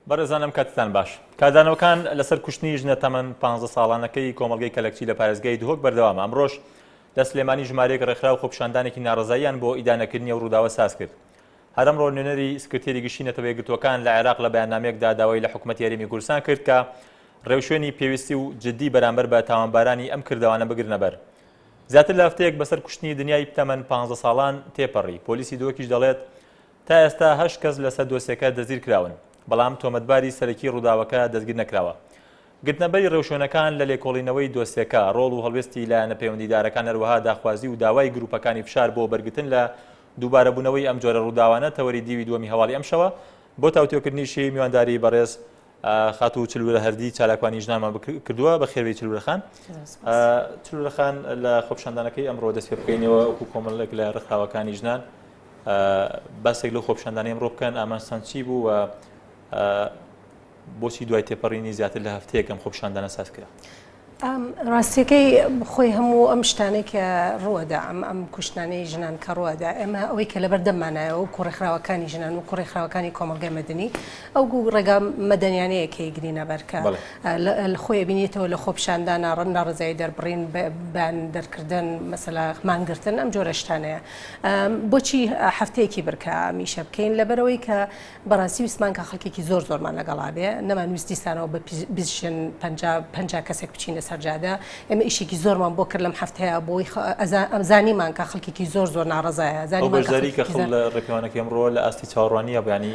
بەڕێزانم کاتتان باش کاردانەوەکان لەسەر کوشتنی ژنە تەمەن 15 ساڵانەکەی کۆمەلگەی کەلەکچی لە پارێزگای دهۆک بەردەوامە ئەمڕۆژ لە سلێمانی ژمارەیەک ڕێکخراو خۆپشاندانێکی ناڕزاییان بۆ ئیدانەکردنی و ڕووداوە ساز کرد هەرم ڕۆ نوێنەری سکرتێری گشتی نەتەوەی گرتوەکان لە عێراق لە بەیاننامێکدا داوای لە حکوومەت یاریمی گورسان کرد کە ڕێوشوێنی پێویستی و جدی بەرامبەر بە تاوانبارانی ئەم کردەوانە بگرنەبەر. زیاتر لە هەفتەیەک بەسەر کوشتنی دنیای تەمەن پانزە ساڵان تێپەڕی، پۆلیسی دهۆکیش دەڵێت، تا ئێستا هەشت کەس لەسەر دۆسیەکە دەستگیرکراون، بەڵام تۆمەتباری سەرەکی ڕووداوەکە دەستگیرنەکراوە. گرتنەبەری ڕێوشوێنەکان لە لێکۆڵینەوەی دۆسیەکە، ڕۆڵ و هەڵوێستی لایەنە پەیوەندیدارەکان هەروەها داخوازی و داوای گروپەکانی فشار بۆ بەرگرتن لە دووبارەبوونەوەی ئەم جۆرە ڕووداوانە تەوەری دیوی دووەمی هەواڵی ئەمشەوە بۆ تاوتوێکردنیشی میوانداری بەڕێز خاتوو چلورە هەردی چالاکوانی ژنانمان کردووە بە خێوی چلورەخان چلورەخان لە خۆپشاندانەکەی ئەمڕۆ دەست پێ بکەینەوە وەکو کۆمەڵێک لە ڕخاوەکانی ژنان باسێک لە خۆپشاندانی ئەمڕۆ بکەن ئامان سانچی بوو و بۆچی دوای تێپەڕینی زیاتر لە هەفتەیەکەم خۆپشاندانە ساز کرا ڕاستیەکەی خۆی هەموو ئەم شتانەی کە ڕوەدا ئەم ئەم کوشتنانەی ژنان کە ڕوەدا ئێمە ئەوەی کە لەبەر دەمانایە و کوڕێکخراوەکانی ژنان و کوڕێکخراوەکانی کۆمەلگای مەدنی ئەو گو ڕێگا مەدەنیانەیە کە گرینە بەرکە خۆی بینێتەوە لە خۆپشاندان ناڕەن ناڕزایی دەربڕین بەیان دەرکردن مەسەلا مانگرتن ئەم جۆرەشتانەیە بۆچی هەفتەیەکی برکە میشە بکەین لەبەرەوەی کە بەڕاستی ویستمان کە خەڵکێکی زۆر زۆرمان لەگەڵا بێ نەمان ویست دیسانەوە بە بزشن پنج کەسێک بچینە سەرجادە ئێمە ئیشێکی زۆرمان بۆ کرد لەم هەفتەیە بۆی ئەمزانیمان کە خەڵکێکی زۆر زۆر ناڕزایە زانیزاری کە خڵ لە ڕێپیوانەکە ئەمڕۆ لە ئاستی چاڕوانیە بەانی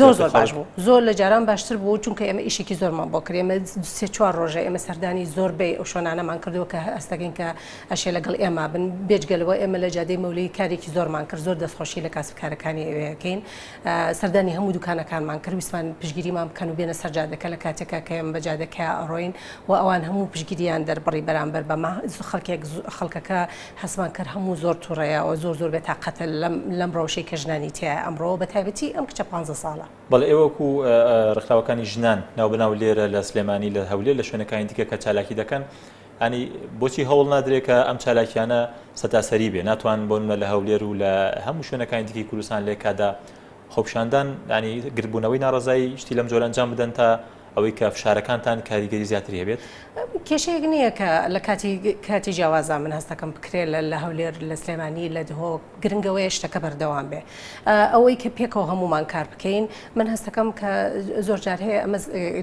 زۆر زۆر باش بوو زۆر لە جاران باشتر بوو چونکە ئێمە ئیشێکی زۆرمان بۆ کرێمە سێ چوار ڕۆژە ئێمە سەردانی زۆر بێ ئەو شۆنانەمان کردووە کە هەستەکەین کە ئەشێ لەگەڵ ئێمە بن بێجگەلەوە ئێمە لە جادەی مەولەی کارێکی زۆرمان کرد زۆر دەستخۆشی لە کاسبکارەکانی ئەوەکەین سەردانی هەموو دوکانەکانمان کرد ویستمان پشگیریمان بکەن و بێنە سەر جادەکە لە کاتێکا کە ئێمە بە جادەکەیا ئەڕۆین و ئەوان هەموو پشگیریان دەربڕی بەرامبەر بەمە خەڵکێک خەڵکەکە هەستمان کرد هەموو زۆر توڕەیە و زۆر زۆر بێتاقەتە لەم ڕەوشەی کە ژنانی تیایە ئەمڕۆ بە تایبەتی ئەم کچە پانزە ساڵە. بەڵێ ئێوە وەکوو ڕێکخراوەکانی ژنان ناوبەناو لێرە لە سلێمانی لە هەولێر لە شوێنەکانی دیکە کە چالاکی دەکەن، یانی بۆچی هەوڵ نادرێت کە ئەم چالاکیانە سەتاسەری بێ ناتوان بۆن لە هەولێر و لە هەموو شوێنەکانی دیکەی کوردستان لێکادا خۆپشاندان ینی گربوونەوەی ناڕزایی شتی لەم جۆرە ئەنجام بدەن تا ئەوەی کە فشارەکانتان کاریگەری زیاتری هەبێت کێشەیەک نییە کە لە کاتی کاتی جیاوازە من هەستەکەم بکرێت لە هەولێر لە سلێمانی لە دهۆک گرنگەوەیە شتەکە بەردەوام بێ ئەوەی کە پێکەوە هەمومان کار بکەین من هەستەکەم کە زۆر جار هەیە ئەمە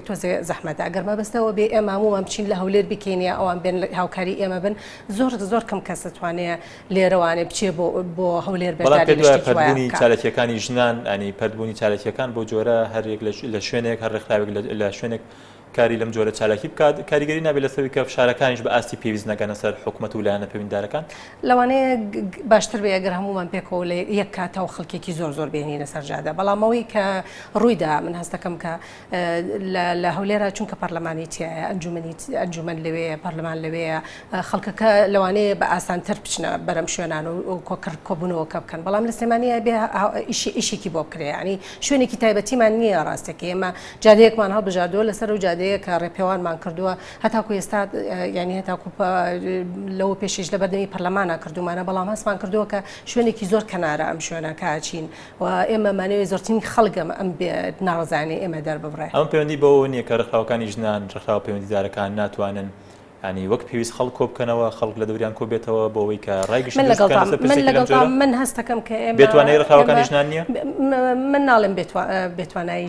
تۆزێ زەحمەتە ئەگەر مەبەستەوە بێ ئێمە هەمومان بچین لە هەولێر بکەین یا ئەوان بێن هاوکاری ئێمە بن زۆر زۆر کەم کەس دەتوانێت لێرەوانێ بچێ بۆ بۆ هەولێر بەداربوونی چالەکیەکانی ژنان ئەنی پردبوونی چالەکیەکان بۆ جۆرە هەرێک لە شوێنێک هەر ڕێکخراوێک لە شوێنێک کاری لەم جۆرە چالاکی بکات، کاریگەری نابێت لەسەر ئەوەی کە فشارەکانیش بە ئاستی پێویست نەگەنە سەر حکومەت و لایەنە پەیوەندیدارەکان. لەوانەیە باشتر بێت ئەگەر هەموومان پێکەوە لە یەک کاتەوە خەڵکێکی زۆر زۆر بێنینە سەر جادە، بەڵام ئەوەی کە ڕوویدا من هەست دەکەم کە لە هەولێرا چونکە پەرلەمانی تیایە، ئەنجوومەن لەوێیە، پەرلەمان لەوێیە، خەڵکەکە لەوانەیە بە ئاسانتر بچنە بەر ئەم شوێنانە و کۆبوونەوەکە بکەن، بەڵام لە سلێمانی ئەبێت ئیشێکی بۆ بکرێت، یانی شوێنێکی تایبەتیمان نییە ڕاستەکەی ئێمە، جادەیەکمان هەڵبژاردووە لەسەر ئەو جادەیە کە ڕێپێوانمان کردووە هەتاکو ئێستا یانی هەتاکو لەوە پێشیش لە بەردەمی پەرلەمانە کردومانە بەڵام هەستمان کردووە کە شوێنێکی زۆر کەنارە ئەم شوێنە کاچین و ئێمە مانەوەی زۆرترین خەڵگەم ئەم ناڕزانانی ئێمە دەرببڕێ ئەمە پەیوەندی بەوە نییە کە ڕێکخراوەکانی ژنان ڕێکخراوە پەیوەندیدارەکان ناتوانن یانی وەک پێویست خەڵک کۆبکەنەوە، خەڵک لە دەوریان کۆبێتەوە بۆ ئەوەی کە ڕای گشتی دروست بکەن لەسەر پرسێکی لەم جۆرە. من هەستەکەم کە ئێمە بێتوانایی ڕێکخراوەکانی ژنان نییە؟ من ناڵێم بێتوانایی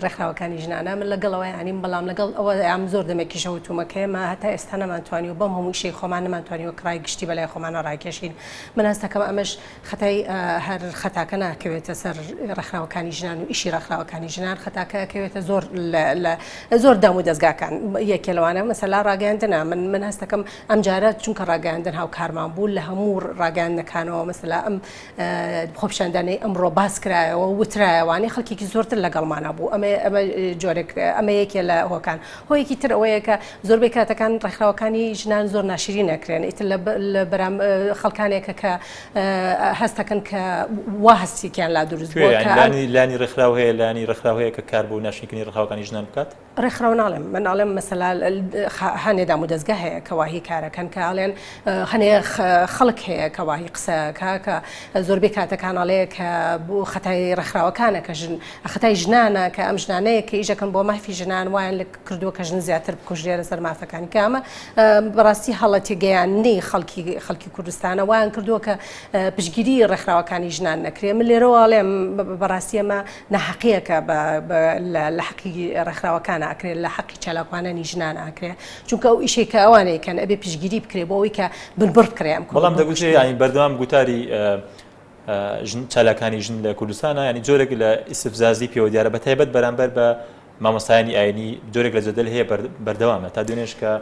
ڕێکخراوەکانی ژنانە، من لەگەڵ ئەوەیان نیم، بەڵام لەگەڵ ئەوەیام زۆر دەمێکیشە وتوومە کە ئێمە هەتا ئێستا نەمانتوانیوە بەم هەموو ئیشەی خۆمان نەمانتوانیوە کە ڕای گشتی بەلای خۆمانەوە ڕاکێشین. من هەستەکەم ئەمەش. خەتای هەر خەتاکە ناکەوێتە سەر ڕێکخراوەکانی ژنان و ئیشی ڕێکخراوەکانی ژنان خەتاکە کەوێتە زۆر زۆر دام و دەستگاکان یەکێ لەوانە مەسەلا ڕاگەاندنا من من هەستەکەم ئەم جارە چونکە ڕاگەاندن هاوکارمان بوو لە هەموو ڕاگەاندنەکانەوە مەسەلا ئەم خۆپشاندانەی ئەمڕۆ باس کرایەوە وترایەوانی خەڵکێکی زۆرتر لەگەڵمانە بوو ئەمە ئەمە جۆرێک ئەمە یەکێ لە هۆکان هۆیەکی تر ئەوەیە کە زۆربەی کاتەکان ڕێکخراوەکانی ژنان زۆر ناشرین ئەکرێن ئیتر لە بەرام خەڵکانێکە کە هەستەکەن کە وا هەستێکیان لا دروست لانی لانی ڕێکخراو هەیە لانی ڕێکخراو هەیە کە کار بۆ ناشنکردنی ڕخاوەکانی ژنان بکات ڕێکخراو ناڵێم من ئاڵێم مەسەلا هەنێ دام و دەستگە هەیە کەواهی کارەکەن کە ئاڵێن هەنێ خەڵک هەیە کەواهی قسەکە کە زۆربەی کاتەکانەڵێ کە بۆ خەتای ڕێکخراوەکانە کە ژن خەتای ژنانە کە ئەم ژنانەیە کە ئیشەکەن بۆ مافی ژنان وایان لە کردووە کە ژن زیاتر بکوژرێ لەسەر مافەکانی کە ئەمە بەڕاستی هەڵە تێگەیاندنەی خەڵکی خەڵکی کوردستانە وایان کردووە کە پشگیری ڕێکخراوەکانی ژنان نەکرێ من لێرەوە ئەڵێم بەڕاستی ئەمە نەحەقیەکە لە حەقی ڕێکخراوەکان ئاکرێ لە حەقی چالاکوانانی ژنان ئاکرێ چونکە ئەو ئیشێ کە ئەوانەیە کەن ئەبێ پشگیری بکرێ بۆ ئەوی کە بنبڕ کرێ ئەم بەڵام دەگوتێ یانی بەردەوام گوتاری چالاکانی ژن لە کوردستانە ینی جۆرێک لە ئیسفزازی پێوە دیارە بە تایبەت بەرامبەر بە مامۆستایانی ئاینی جۆرێک لە جەدەل هەیە بەردەوامە تا دوێنێش کە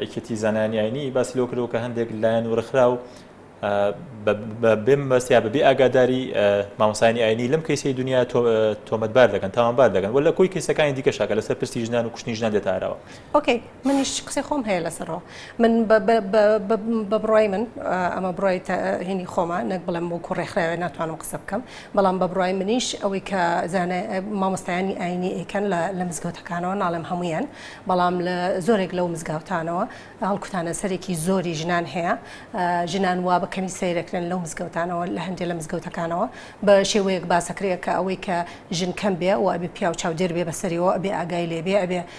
ئەکێتی زانانی ئاینی باسی لەو کردەوە کە هەندێک لایەن و ڕخرا و بێمەبەست یا بەبێ ئاگاداری مامۆسانی ئاینی لەم کەیسی دنیا تۆمەتبار دەکەن تاوانبار دەکەن و لە کۆی کەیسەکانی دیکە شاکە لەسەر پرسی ژنان و کوشتنی ژنان دێتارەوە. منیش قسەی خۆم هەیە لەسەرەوە من بە بڕای من ئەمە بڕای هینی خۆمە نەک بڵێم وەکو ڕێکخراوێ ناتوانم قسە بکەم بەڵام بە بڕای منیش ئەوەی کە زانە مامۆستایانی ئاینی ئەیکەن لە مزگەوتەکانەوە ناڵێم هەمویان بەڵام لە زۆرێک لەو مزگاوتانەوە هەڵکوتانە سەرێکی زۆری ژنان هەیە ژنان وا بە کەمی سیرەکرێن لەو مزگەوتانەوە لە هەندێ لە مزگەوتەکانەوە بە شێوەیەک باسەکرەیە کە ئەوەی کە ژن کەم بێ و ئەبێ پیاو چاودێر بێ بەسەریەوە ئەبێ ئاگای لێبێ ئەبێ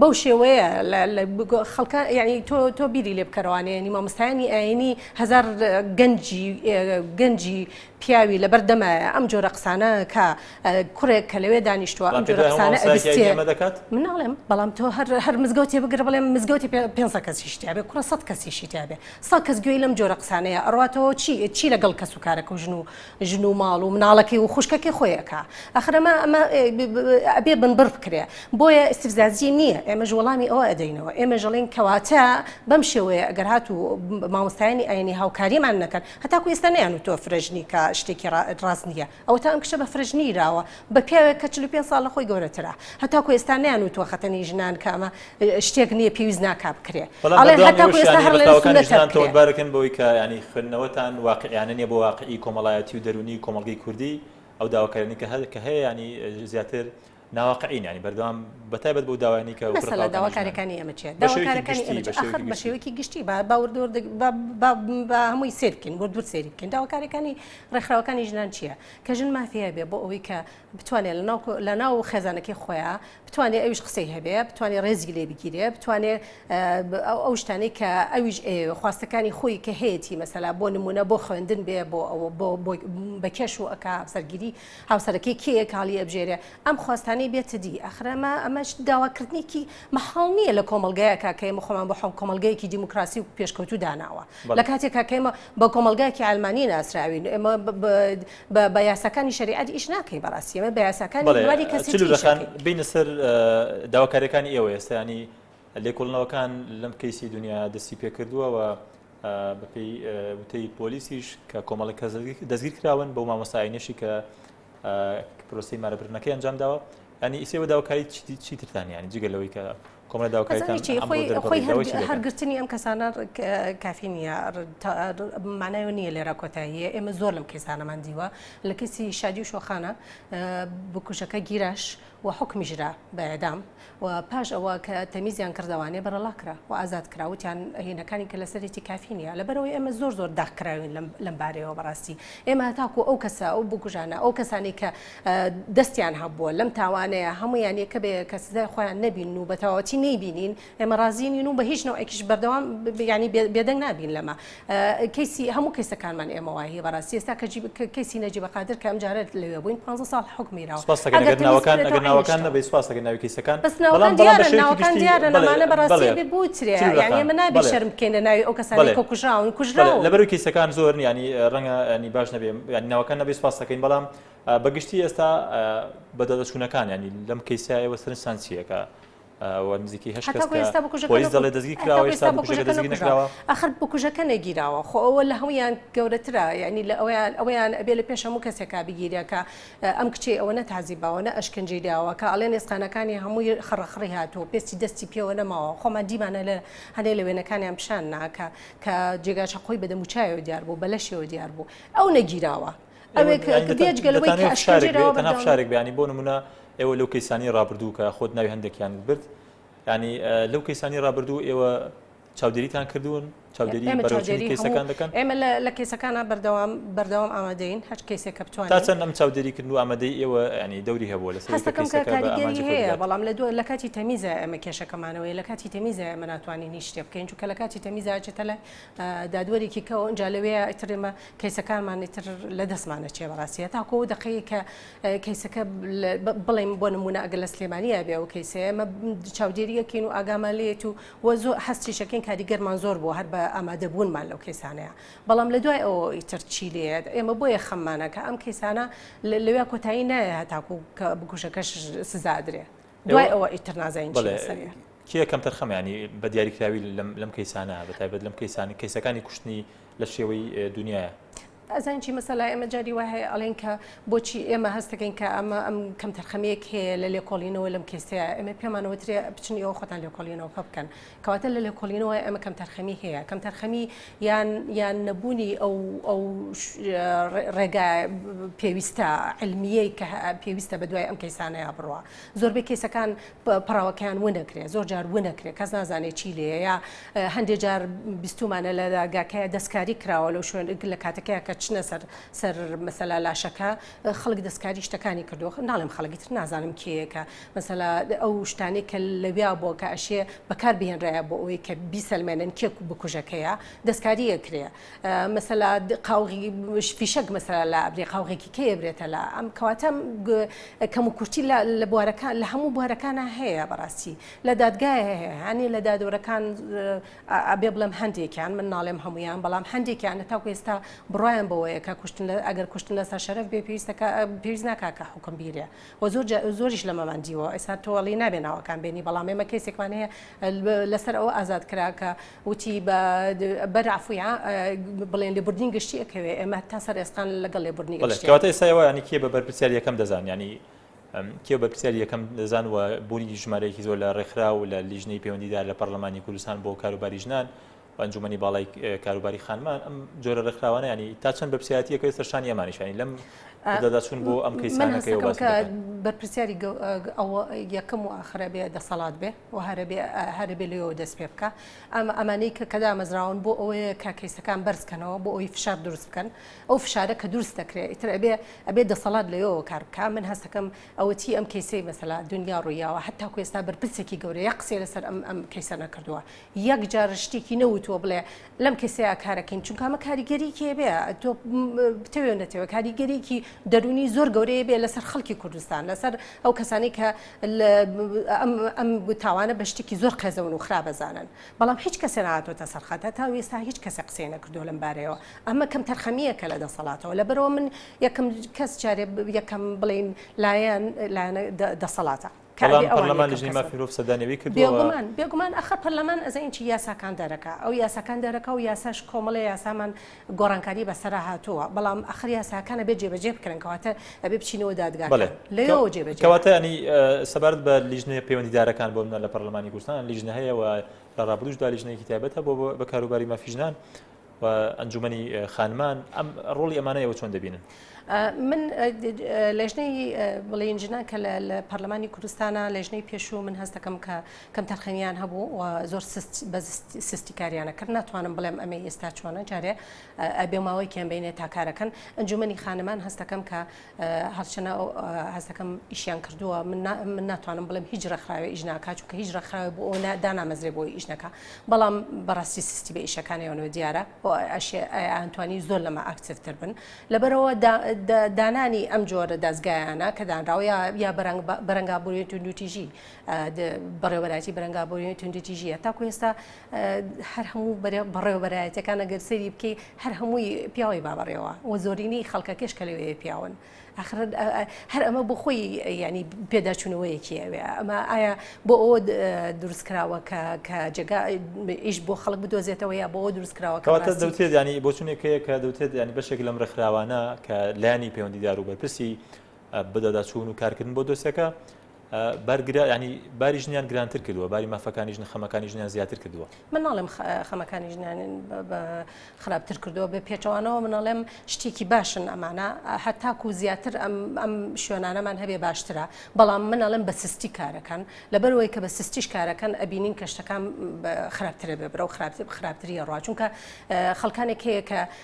بەو شێوەیە خەڵکە یعنی تۆ تۆ بیری لێ بکەرەوانێنی مامۆستایانی ئاینی هزار گەنجی گەنجی پیاوی لەبەر دەمایە ئەم جۆرە قسانە کە کوڕێک کە لەوێ دانیشتووە ئەم جۆرە قسانە دەکات مناڵێم بەڵام تۆ هەر هەر مزگەوتی بگرە بڵێم مزگەوتی پێ کەسی شتیاێ کوڕە سە کەسی شتیاێ سا کەس گوێی لەم جۆرە قسانەیە ئەڕاتەوە چی چی لەگەڵ کەس و کارەکە ژن و ژن و ماڵ و مناڵەکەی و خوشکەکەی خۆی ئەکا ئەخر ئەمە ئەمە ئەبێ بنبڕ بکرێ بۆیە استفزازی نییە ئێمەش وەڵامی ئەوە ئەدەینەوە ئێمە ژەڵین کەواتە بەم شێوەیە ئەگەر هات و مامۆستایانی ئاینی هاوکاریمان نەکەن هەتاکو ئێستا نیان و تۆ فرەژنی کە شتێکی ڕاست نییە ئەوەتا ئەم کچە بە فرەژنی راوە بە پیاوێک کە چل و پێنج ساڵ لە خۆی گەورەترە هەتاکو ئێستا نەیانوتوە خەتەنەی ژنان کامە شتێک نییە پێویست ناکا بکرێ بەڵام ئەڵێن بەردەوامی هەتاکو ئێستا ئەوەشیان هەیە هەر لەوێ بەتاوەکانی سوننەتە ژنان بکرێ. تۆمەتبارەکەن بەوەی کە یانی خوێندنەوەتان واقعیانە نییە بۆ واقعی کۆمەڵایەتی و دەروونی کۆمەڵگەی کوردی ئەو داواکاریانەی کە هەل کە هەیە یانی زیاتر ناواقعین یانی بەردەوام بەتایبەت بەو داوایانەی کە وەکو مەسەلە رەقابەکانی ژنان داواکاریەکانی ئێمە چیە بە شێوەیەکی داواکارەکانی گشتی ئێمە بە چیە ئەخەر شێوەیەکی بە گشتی شێوەیەکی گشتی با با وردە وردە با با با هەمووی سەیر بکەین ورد ورد سەیری بکەین داواکاریەکانی رێکخراوەکانی ژنان چیە کە ژن مافی هەبێ بۆ ئەوەی کە بتوانێ لە ناو خێزانەکەی خۆیە بتوانێ ئەویش قسەی هەبێ بتوانێ ڕێزی لێ بگیرێ بتوانێ ئەو شتانی کە ئەویش خواستەکانی خۆی کە هەیەی مەسەلا بۆ نمونە بۆ خوێندن بێ بۆ ئەوە بۆ بە کێش و ئەک هاوسەرگیری هاوسەرەکەی کێ کاڵی ئەبژێرێ ئەم خواستانی بێتە دی ئەخرەمە ئەمەش داواکردنێکی مەحاڵ نییە لە کۆمەلگایە کاکەی مخۆمان بۆ حڵ کۆمەلگەیەکی دیموکراسی و پێشکەوتو داناوە لە کاتێک کاکەمە بە کۆمەڵگایەکی عەلمانی ناسراوین ئێمە بە یاساکانی شەریعەت ئیش ناکەین بەڕاستی ئێمە بە یاساکانی بواری کەسیتی ئیش ئەکەین. بێینە سەر داواکاریەکانی ئێوە ئێستا ینی لێکۆڵنەوەکان لەم کەیسی دنیا دەستی پێکردووە و بەپێی وتەی پۆلیسیش کە کۆمەڵی کەس دەستگیر کراون بۆ مامۆستاینەشی کە پرۆسی مارە برنەکەی ئەنجام داوە ئەنی ئیسێوە داوکاری چی ترتان ینی جگە لەوەی کە کۆمە داوکاری هەرگرتنی ئەم کەسانە کافی نییە مانای نییە لێرا کۆتاییە ئێمە زۆر لەم کەسانەمان دیوە لە کەسی شادی و شۆخانە بکوژەکە گیراش و حوکمیش را بە اعدام و پاش ئەوە کە تەمیزیان کردەوانێ بەرەڵا کرا و ئازاد کرا وتیان هینەکانی کە لەسەرێتی کافی نیە لەبەرەوەی ئێمە زۆر زۆر داخ کراوین لەم لەم بارەیەوە بەڕاستی ئێمە هەتاکو ئەو کەسە ئەو بکوژانە ئەو کەسانی کە دەستیان هەبووە لەم تاوانەیە هەموویان یەکە بە یەکە سزای خۆیان نەبینن و بەتەواوەتی نەیبینین ئێمە ڕازی نین و بە هیچ نەوەکیش بەردەوام یعنی بێدەنگ نابین لەمە کەسی هەموو کەسەکانمان ئێمە وایە بەڕاستی ئێستا کە کەسی نەجی بەقادر کە ئەمجارە لەوێ بووین 15 ساڵ حکمیراوە ناوەکان نەبی سپاسەکە ناوی کەسەکان بەس ناوەکان دیارە لەمانە بەڕاستی بوترێ یعنی ئمە نابی شەرم بکەین لە ناوی ئەو کەسانی کە کوژراون کوژراون لەبەر کەسەکان زۆر ینی ڕەنگە ینی باش نەبێ ینی ناوەکان نەبی سپاسەکەین بەڵام بەگشتی ئێستا بەدەدەچوونەکان ینی لەم کەیسایەوە سەرسانسیەکە و نزیکەی هەشت کەس کە پۆلیس دەڵێت دەستگیر کراوە ئێستا بکوژەکە دەستگیر نەکراوە. ئاخر بکوژەکە نەگیراوە خۆ ئەوە لە هەموویان گەورەترە یانی لە ئەویان ئەویان ئەبێ لە پێش هەموو کەسێکا بگیرێ کە ئەم کچەی ئەوە نە تازیباوە نە ئەشکەنجەی داوە کە ئەڵێن ئێسقانەکانی هەمووی خڕەخڕی هاتووە پێستی دەستی پێوە نەماوە خۆمان دیمانە لە هەنێ لە وێنەکانیان پیشان نا کە کە جێگا چەقۆی بە دەموچاویەوە دیار بوو بە لەشیەوە دیار بوو ئەو نەگیراوە. شارێک بیانی بۆ نمونە ئێوە لەو کەیسانی ڕابردوو کە خۆت ناوی هەندێکیان برد ینی لەو کەیسانی ڕابردوو ئێوە چاودێریتان کردوون چاودێری بەرەوچێری کەیسەکان دەکەن ئێمە لە کەیسەکانە بەردەوام بەردەوام ئامادەین هەر کەیسێک کە بتوان تا چەند ئەم چاودێری کردن و ئامادەی ئێوە ینی دەوری هەبووە لە هەیە بەڵام لە دوو لە کاتی تەمیزە ئەمە کێشەکەمانەوەی لە کاتی تەمیزە ئەمە ناتوانین هیچ شتێ بکەین چونکە لە کاتی تەمیزا چێتە لە دادوەرێکی کەەوە ئەنج لەوێ ئەترێمە کەیسەکانمان ئیتر لە دەستمان ئەچێ بەڕاستی هەتاکو ئەو دەقەیە کە کەیسەکە بڵێم بۆ نمونە ئەگەر لە سلێمانیە بێ ئەو کەیسەیە ئەمە چاودێریەکەین و ئاگامان لێت و وە زۆر هەستیشەکەین کاریگەرمان زۆر بۆ هەر بە ئامادەبوونمان لەو کەیسانەیە بەڵام لە دوای ئەوە ئیتر چی لێت ئێمە بۆیە خەممانەکە ئەم کەیسانە لەوێ کۆتایی نایە هەتاکو کە بکوژەکەش سزادرێ دوای ئەوە ئیتر نازانین چی لەسەریە کێ کەمتر خەمیانی بە دیاریکراوی لەم کەیسانە بە تایبەت لەم کەیسانی کەیسەکانی کوشتنی لە شێوەی دونیایە. ئەزانین چی مەسەلا ئێمە جاری وای هەیە ئەڵێن کە بۆچی ئێمە هەستەکەین کە ئەمە ئەم کەم تەرخەمەیەک هەیە لە لێکۆڵینەوە لەم کێسەیە ئەمە پێمانەوە ترێ بچن ئەو خۆتان لێکۆڵینەوە کە بکەن کەواتە لە لێکۆڵینەوە ئەمە کەم تەرخەمی هەیە کەم تەرخەمی یان یان نەبوونی ئەو ئەو ڕێگا پێویستە علمیەی کە پێویستە بە دوای ئەم کەیسانەیە بڕە زۆربەی کەیسەکان پەڕەوەکەیان ونەکرێ زۆر جار ونەکرێ کەس نازانێت چی لێە یا هەندێک جار بیستومانە لە داگاکەیە دەستکاری کراوە لەو شوێن لە کاتەکەی کە چنە سەر سەر مەسەلا لاشەکە خەڵک دەستکاری شتەکانی کردو ناڵێم خەڵکی تر نازانم کێیەکە مەسەلا ئەو شتانی کە لەویا بۆ کە ئەشێ بەکار بهێنرایە بۆ ئەوەی کە بیسەلمێنن کێک بکوژەکەیە دەستکاریە کرێ مەسەلا قاوغی فیشەک مەسەلا لە ئەبرێ قاوغێکی کەیە برێتە لە ئەم کەواتە کەم و کورتی لە بوارەکان لە هەموو بوارەکانە هەیە بەڕاستی لە دادگایە هەیە هەنێ لە دادۆرەکان ئەبێ بڵێم هەندێکیان من ناڵێم هەمویان بەڵام هەندێکیان لە تاکو ئێستا بڕایان بەوەیە کە کوشتن لە ئەگەر کوشتن لەسەر شەرف بێ پێویستەکە پێویست ناکا کە حکم بیرێ و زۆر زۆریش لەمەمان دیوە ئێستا تۆڵی نابێ ناوەکان بێنی بەڵام ئێمە کەسێکمان هەیە لەسەر ئەو ئازاد کرا کە وتی، بە بەر عەفوی عام بڵێن لێبوردنی گشتی ئەکەوێ، ئێمە تا سەر ئێسقان لەگەڵ لێبوردنی گشتیان. بەڵێ، کەواتە ئێستا ئێوە یانی کێ بە بەرپرسیار یەکەم دەزان، یانی کێ بەرپرسیاری یەکەم دەزان و بوونی ژمارەیەکی زۆر لە ڕێکخراو و لە لیژنەی پەیوەندیدار لە پەڕڵەمانی کوردستان بۆ کاروباری ژنان و ئەنجومەنی باڵای کاروباری خانمان ئەم جۆرە ڕێکخراوانە یانی تا چەند بەرپرسیارەتییەکەوێ سەر شانی ئەمانیش یانی لەم دەچون بۆ ئەم کەیسانەکەی بەرپرسیاری ئەوە یەکەم و ئاخرە بێ دەسەڵات بێ و هەربێ لەوە دەست پێ بکە ئەمە ئەمانەی کە کەدا مەزراون بۆ ئەوەیە کە کەیسەکان بەرزکەنەوە بۆ ئەوی فشار دروست بکەن ئەو فشارە کە دروست دەکرێت ئیتر ئەبێ ئەبێ دەسەڵات لەوە کار بکە من هەستەکەم ئەوەتی ئەم کەیسی مەسەلا دنیا ڕوویاوە هەتا کوێستا بەرپرسێکی گەورەیە قسێ لەسەر ئەم ئەم کەیسە نەکردووە یەک جار شتێکی نەوتووە بڵێ لەم کەسەیە کارەکەیم چونکە ئەمە کاریگەریکێ بێ تۆ بتەوێ نەتەوە کاریگەریکی دەرونی زۆر گەورەیە بێ لەسەر خەڵکی کوردستان لەسەر ئەو کەسانی کە ئەم تاوانە بە شتێکی زۆر قێزەون و خراپەزانن بەڵام هیچ کەسێ نهاتۆتە سەرخەتە تا وێستا هیچ کەسە قسەی نەکردو لەم بارەیەوە ئەمە کەم تەرخەمیە کە لە دەسەڵاتەوە لە بەرەوە من یەکەم کەس جارێ یەکەم بڵین لایەن لایەنە دەسەڵاتە کاری ئەوان پەرلەمان لجنەی مافی مرۆڤ سەردانی ئەوی کردووە و بێگومان بێگومان ئەخە پەرلەمان ئەزانین چی یاساکان دەرەکا ئەو یاساکان دەرەکا و یاساش کۆمەڵی یاسامان گۆڕانکاری بەسەرا هاتووە بەڵام ئەخر یاساکان ئەبێ جێبەجێ بکرێن کەواتە ئەبێ بچینەوە دادگا بەڵێ لەوەوە جێبەجێ کەواتە ینی سەبارەت بە لیژنەیە پەیوەندیدارەکان بۆ منە لە پەرلەمانی کوردستان لیژنە هەیە و لە ڕابردووشدا لیژنەیەکی تایبەت هەبوو بە کاروباری مافی ژنان و ئەنجومەنی خانمان ئەم ڕۆڵی ئەمانە ئێوە چۆن دەبینن؟ من لەژنەی بڵێن ژنان کە لە پەرلەمانی کوردستانە لەژنەی پێشوو من هەستەکەم کە کەم تەرخەمیان هەبوو و زۆر بە سستی کاریانە کرد ناتوانم بڵێم ئەمە ئێستا چۆنە جارێ ئەبێ ماوەیکیان بینێ تاکارەکەن ئەنجومنی خانمان هەستەکەم کە هەرچەنە هەست دەکەم ئیشیان کردووە من ناتوانم بڵێم هیچ ڕێکخراوێ ئیش ناکات چونکە هیچ ڕێکخراوێ بۆ ئەوە دانامەزرێ بۆی ئیش نەکا بەڵام بەڕاستی سستی بە ئیشەکانیانەوە دیارە ئەشیانتوانی زۆر لەمە ئاکتیڤتر بن لەبەرەوە دانانی ئەم جۆرە دەستگایانە کە دانراوە یا بەرەنگابووری توندوتیژی بەڕێوەراتی بەرەنگابووری توندوتیژیە تاکو ئێستا هەر هەموو بەڕێوەبەرایەتەکان ئەگەر سەری بکەی هەر هەمووی پیاوی بابڕێەوە و زۆرینی خەڵکەکەش کە لەوێ پیاون ئەخر هەر ئەمە بۆ خۆی ینی پێداچوونەوەیەکی ئەوێ ئەمە ئایا بۆ ئەوە دروستکراوە کە کە جگا ئیش بۆ خەڵک بدۆزێتەوە یا بۆ دروستکراوە کەواتە دەوتێت ینی بۆچونێکەیە کە دەوتێت ینی بەشێک لەم ڕێکخراوانە کە لانی پەیوەندیدار و بەرپرسی بدەداچوون و کارکردن بۆ دۆسیەکە بەرگرە ینی باری ژنیان گرانتر کردووە باری مافەکانی ژنە خەمەکانی ژنیان زیاتر کردووە من ناڵێم خەمەکانی ژنیان خراپتر کردووە بە پێچەوانەوە منەڵێم شتێکی باشن ئەمانە هەتاکو زیاتر ئەم ئەم شوێنانەمان هەبێ باشترە بەڵام منەڵێم بە سستی کارەکەن لەبەرەوەی کە بە سستیش کارەکەن ئەبینین کەشتەکان خراپترە بێ برە و خراپتر خراپتریە ڕاچونکە خەڵکانێک هەیە کە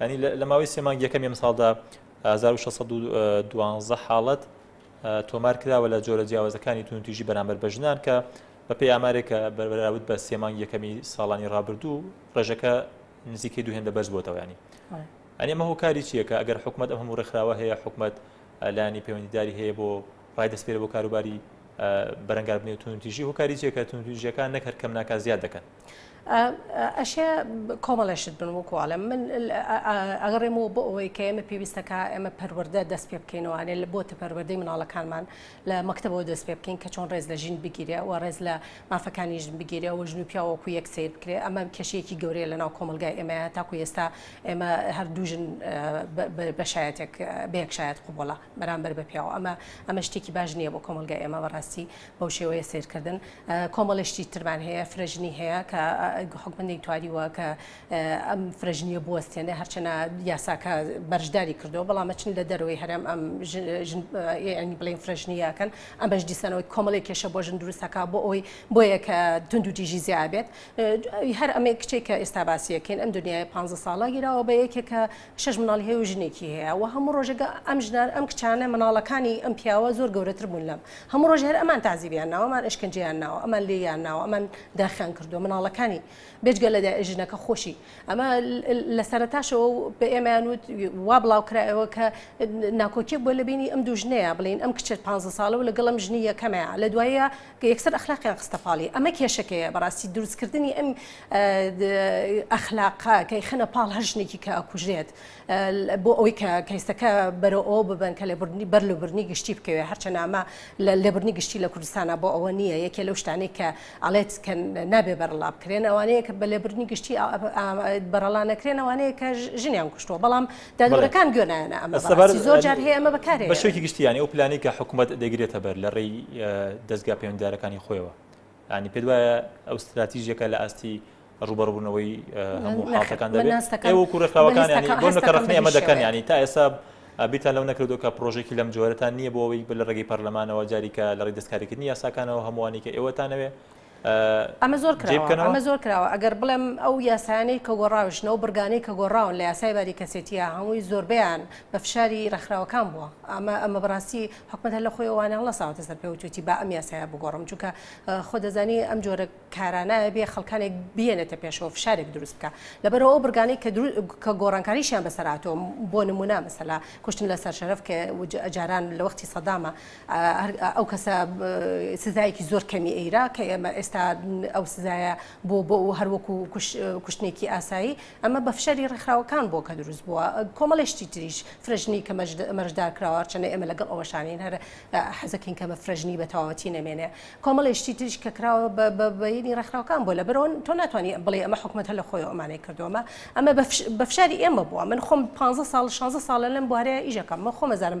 یانی لە ماوەی سێ مانگی یەکەمی ئەمساڵدا 1612 حاڵەت تۆمار کراوە لە جۆرە جیاوازەکانی تونتیژی بەرامبەر بە ژنان کە بە پێی ئامارێکە بەربراوت بە سێ مانگی یەکەمی ساڵانی ڕابردوو ڕێژەکە نزیکەی دوو هێندە بەرز بۆتەوەیانی ئەنی مە هۆکاری چیەکە ئەگەر حکوومەت ئەم هەموو ڕێکخراوە هەیە حکوومەت لانی پەیوەندیداری هەیە بۆ ڕای دەستپێرە بۆ کاروباری بەرەنگاربنی تونتیژی هۆکاری چیەکە تونتیژیەکان نەکەر کەم ناکە زیاد دەکەن ئەشێ کۆمەڵێ شت بن وەکو ئەڵێم من ئەگەڕێمەوە بۆ ئەوەی کە ئێمە پێویستەکە ئێمە پەروەەردە دەست پێ بکەینەوەێ لە بۆتە پەروەەردەی مناڵەکانمان لە مەکتتەبەوە دەست پێ بکەین کە چۆن ڕێز لە ژین بگیرێ و ڕێز لە مافەکانی ژن بگیرێ و ژن و پیاوەکو یەک سیر بکرێ ئەمە کێشەیەکی گەورەیە لە ناو کۆمەلگای ئێمە تاکو ئێستا ئێمە هەردوو ژن بەشایەتێک بەیەکشایەت قوبڵە بەرامبەر بە پیاوە ئەمە ئەمە شتێکی باش نییە بۆ کۆمەلگای ئێمە بەڕاستی بەو شێوەیە سەیرکردن کۆمەڵی شتی ترمان هەیە فرەژنی هەیە کە حکومە نەیتواریوە کە ئەم فرەژنیە بوەستێنێ هەرچەنە یاساکە بەرشداری کردو بەڵامە چین لە دەروی هەرم ئەم ینی بڵین فرەژنیەکەن ئەمەش دیسانەوەی کۆمەڵی کێشە بۆ ژن دروستەکە بۆ ئەوی بۆیە کە تونند و تیژی زیابێت هەر ئەمەی کچێک کە ئێستا باسیەکەین ئەم دنیای پ ساڵە گیراوە بە یەکێکە شەش مناڵی هەیە و ژنێکی هەیە وە هەموو ڕۆژێک ئەم ژنان ئەم کچانە مناڵەکانی ئەم پیاوە زۆر گەورەتر بوون لەم هەموو ڕۆژ هەر ئەمان تازیبیان ناوە ئەمان ئەشکنجەیان ناوە ئەمان لێیان ناوە ئەمان داخیان کردووە مناڵەکانی بێجگە لە ژنەکە خۆشی ئەمە لە سەرتاشەوە بە ئێمەیان وت وا بڵاوکرایەوە کە ناکۆکیەک بۆ لە بینی ئەم دوو ژنەیە بڵین ئەم کچێت 15 ساڵە و لەگەڵم ژنی یەکەمەیە لە دوایە یەکسەر ئەخلاقیان خستە پاڵی ئەمە کێشەکەیە بەڕاستی دروستکردنی ئەم ئەخلاقا کەی خەنە پاڵ هەر ژنێکی کە ئەکوژێت بۆ ئەوەی کە کەیسەکە بەرەوە ئەو ببن کە لێبرنی بەر لە برنی گشتی بکەوێت هەرچە نامە لە لێبرنی گشتی لە کوردستانە بۆ ئەوە نییە یەکێ لەو شتانی کە ئەڵێت کە نابێ بەرەڵا بکرێن ئەوانەیە کە بە لێبرنی گشتی بەرەڵا نەکرێن ئەوانەیە کە ژنیان کوشتووە بەڵام دادوەرەکان گوێ نایەنە ئەمە، بەڕاستی زۆر جار هەیە ئەمە بەکارێ بە شێوەیەکی گشتی یانی ئەو پلانەی کە حکوومەت دەگرێتە بەر لە ڕێی دەزگا پەیوەندیدارەکانی خۆیەوە ینی پێت وایە ئەو ستراتیژێکە لە ئاستی ڕوبەڕبوونەوەی هەموو حڵاتەکان دەێنەکە وەکو ڕێکخراوەکانی بۆ نەکەڕخنی ئەمە دەکەن ینی تا ئێستا بیتان لەو نەکردو کە پرۆژێکی لەم جۆرەتان نییە بۆەوەی بە لە ڕێگەی پەرلەمانەوە جاریکە لە ڕێ دەستکاریکردنی یاساکانەوە هەمووانی کە ئێوەتانەوێ ئەمە زۆر کراوە ئەمە زۆر کراوە ئەگەر بڵێم ئەو یاسایانەی کە گۆڕاوشنە و برگانەی کە گۆڕاون لە یاسای باری کەسێتیە هەمووی زۆربیان بە فشاری ڕێکخراوەکان بووە ئەمە ئەمە بەڕاستی حکومت هەر لە خۆی ئەوانە هەڵساوەتە سەر پێ وتوتی با ئەم یاسایە بگۆڕم چونکە خۆ دەزانی ئەم جۆرە کارانایە بێ خەڵکانێک بێنێتە پێشەوە فشارێک دروست بکە لەبەرەوە ئەو برگانەی کە کە گۆڕانکاریشیان بەسەراتەوە بۆ نمونە مەسەلا کوشتن لە سەر شەرف کە جاران لە وەختی سەدامە ئەو کەسە سزایەکی زۆر کەمی ئەیرا کە ئێمە ئێستا ئەو سزایە بۆ بۆ و هەروەکو کوشتنێکی ئاسایی ئەمە بە فشاری ڕێکخراوەکان بۆ کە دروست بووە کۆمەڵێشتی تریش فرەژنی کە مەرجدار کراوە چەنە ئێمە لەگەڵ ئەوەشانین هەر حەزەکەین کەمە فرەژنی بە تەواوەتی نەمێنێ کۆمەڵێشتی تریش کە کراوە بە بەینی ڕێکخراوەکان بۆ لە برۆن تۆ ناتوانانی بڵێ ئەمە حکوومەت هە لە خۆی ئەمانەی کردومە ئەمە بە فشاری ئێمە بووە من خۆم 15 سال 16 ساڵە لەم بوارەیە ئیژەکەم من خۆمەزانم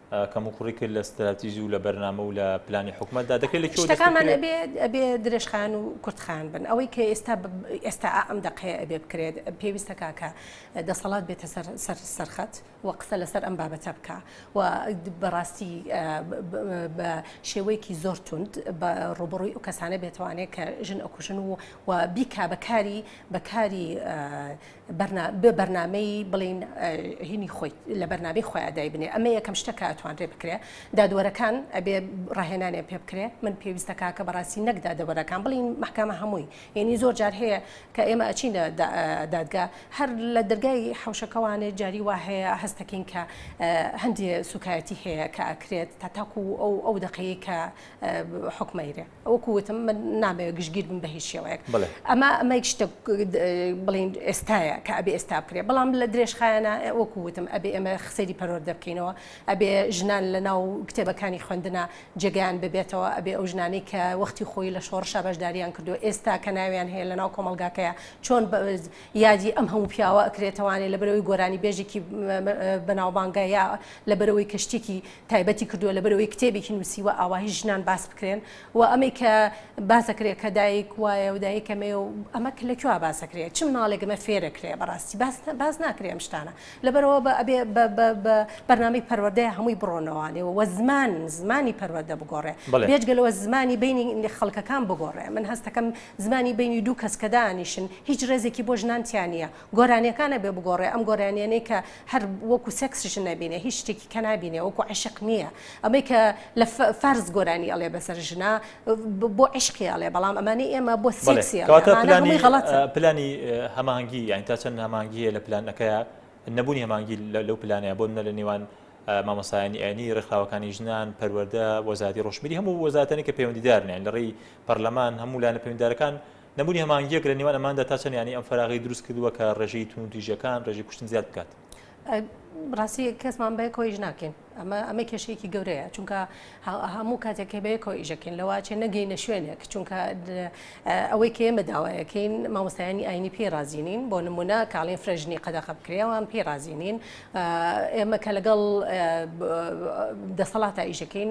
کەموکوڕی کرد لە ستراتیژی و لە بەرنامە و لە پلانی حکومەتدا دەکرێت لە شتەکانمان ئەبێ ئەبێ درێژخان و کورتخان بن ئەوەی کە ئێستا ئێستا ئەم دەقەیە ئەبێ بکرێت پێویستە کاکە دەسەڵات بێتە سەر سەر سەرخەت و قسە لەسەر ئەم بابەتە بکە و بەڕاستی بە شێوەیەکی زۆر توند بە ڕوبڕووی و کەسانە بێتوانێت کە ژن ئەکوژن و و بیکا بەکاری بەکاری بە بەرنامەی بڵێین هینی خۆی لە بەرنامەی خۆیان دایبنێ ئەمە یەکەم شتە کە ئەتوانرێ بکرێ دادوەرەکان ئەبێ ڕاهێنانێ پێ بکرێ من پێویستە کاکە بەڕاستی نەک دادەوەرەکان بڵین محکمە هەمووی یعنی زۆر جار هەیە کە ئێمە ئەچینە دادگا هەر لە دەرگای حوشەکەوانێ جاری وا هەیە هەستەکەین کە هەندێ سوکایەتی هەیە کە ئەکرێت تا تاکو ئەو ئەو دقەیە کە حکمەیرێ. وەکو وتم من نامەوێت گشتگیر بم بە هیچ شێوەیەک ئەمە ئەمە شتە بڵین ئێستاە کە ئەبێ ئێستا بکرێ بەڵام لە درێژخایەنە وەکو وتم ئەبێ ئەمە خسەری پەرۆر دەبکەینەوە ئەبێ ژنان لە ناو کتێبەکانی خوێندنە جێگەیان ببێتەوە ئەبێ ئەو ژنانی کە وەختی خۆی لە شۆڕشە بەشداریان کردو ئێستا کە ناویان هەیە لە ناو کۆمەلگاکەیە چۆن یادی ئەم هەموو پیاوە ئەکرێتوانێت لە بەرەوەی گۆرانی بێژێکی بەناوبانگە یا لە بەرەوەی کەشتێکی تایبەتی کردووە لەبەرەوەی کتێبێکی نووسیوە ئاواهی ژنان باس بکرێن و ئەمەی کە باسەکرێت کە دایک وایە و دایک ئەمەیە و ئەمە لە کوێ باسەکرێت چ مناڵێک ئەمە فێرەکرێ بەڕاستی باس ناکرێ ئەم شتانە لەبەرەوە بە ئەبێ بە بەرنامەی پەروەردەیە هەمووی بڕۆنەوانێ و زمان زمانی پەروەردە بگۆڕێ بێجگەلەوە زمانی بینی خەڵکەکان بگۆڕێ من هەستەکەم زمانی بینی دوو کەس کە دانیشن هیچ ڕێزێکی بۆ ژنانتیان نیە گۆرانیەکانە بێ بگۆڕێ ئەم گۆرانیەنەی کە هەر وەکو سێکس ژن نەبینێ هیچ شتێکی کە نابینێ وەکو عەشق نیە ئەمەی کە لە فارس گۆرانی ئەڵێ بەسەر ژنا بۆ عەشقی ئەڵێ بەڵام ئەمانەی ئێمە بۆ سێکسی ئەڵێ ئەمانە هەمووی غەڵەتە. بەڵێ کەواتە پلانی هەماهەنگی هەماهەنگی یانی تا چەند هەماهەنگی هەیە لە پلانەکەیا نەبوونی هەماهەنگی لەو پلانەیا بۆ نمونە لە نێوان مامۆستایانی ئاینی ڕێکخراوەکانی ژنان پەروەردە وەزاتی ڕۆشنبیری هەموو وەزاتەنی کە پەیوەندیدارن یانی لە ڕێی پەرلەمان هەموو لایەنە پەیوەندیدارەکان نەبوونی هەماهەنگییەک لە نێوان ئەماندا تا چەند یانەی ئەم فەراغی دروست کردووە کە ڕێژەی توندوتیژیەکان، ڕێژەی کوشتن زیاد بکات. ڕاستی کەسمان بەیەکەوە ئیش ناکەین ئەمە ئەمە کێشەیەکی گەورەیە چونکە هەموو کاتێک کە بەیەکەوە ئیشەکەین لەواچێ نەگەینە شوێنێک چونکە ئەوەی کە ئێمە داوایەکەین مامۆستایانی ئاینی پێی رازیینین بۆ نمونە کاڵین فرەژنی قەدەخە بکرێوان پێی رازیینین ئێمە کە لەگەڵ دەسەڵاتا ئیشەکەین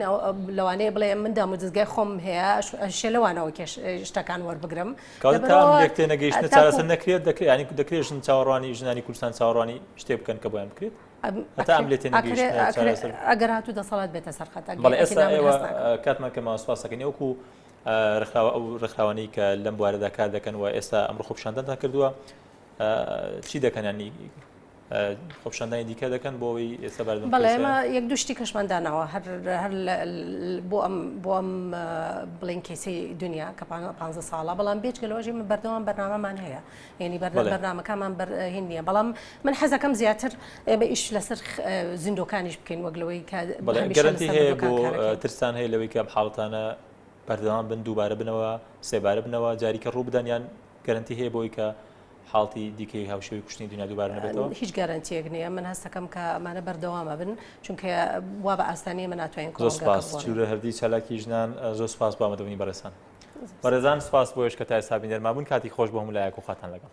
لەوانەیە بڵێ من دامودزگای خۆم هەیە شێ لەوانەوە شتەکان وەربگرم تێنەگەیشتە چارەسەر نەکرێت دەکرێت ینی دەکرێت ژن چاوەڕوانی ژنانی کوردستان چاوەڕوانی شتێ بکەن کە بۆیان بکرێت ئەگەر هاتو دەسەڵات بێتە سەرخەت کاتمان کە ماسپاسەکەن وەکو ڕخاوە ئەو ڕخاوانی کە لەم بوارەدا کار دەکەن و ئێستا ئەمڕ خۆپشاندەتان کردووە چی دەکەنانی خۆپشاندانی دیکە دەکەن بۆ ئەوی ئێستا بەردم بەڵێ ئێمە یەک دوشتی کەشمان داناوە هەر هەر بۆ ئەم بۆ ئەم بڵین کەیسی دنیا کە پ ساڵە بەڵام بێچ گەلۆژی من بەردەوام بەرنامەمان هەیە یعنی بەرنامەکانمان بەرهین نییە بەڵام من حەزەکەم زیاتر ئێمە ئیش لەسەر زیندۆکانیش بکەین وەک لەوەی کە گەرەنتی هەیە بۆ ترسان هەیە لەوەی کە حاڵتانە بەردەوام بن دووبارە بنەوە سێبارە بنەوە جاریکە ڕوو بدەنیان گەرنتی هەیە بۆی کە حاڵتی دیکەی هاوشێوەی کوشتنی دنیا دووبارە نەبێتەوە؟ هیچ گەرەنتیەک نییە من هەستەکەم کە ئەمانە بەردەوامە بن چونکە وا بە ئاسانی من ناتوانین کۆسپاسورە هەردی چالاکی ژنان زۆر سپاس بۆ ئەمەدەبنی بەرەسان بەرەزان سپاس بۆش کە تای سابین دەرمابوون کاتی خۆش بۆ هەموو لایەک و خاتان لەگەڵ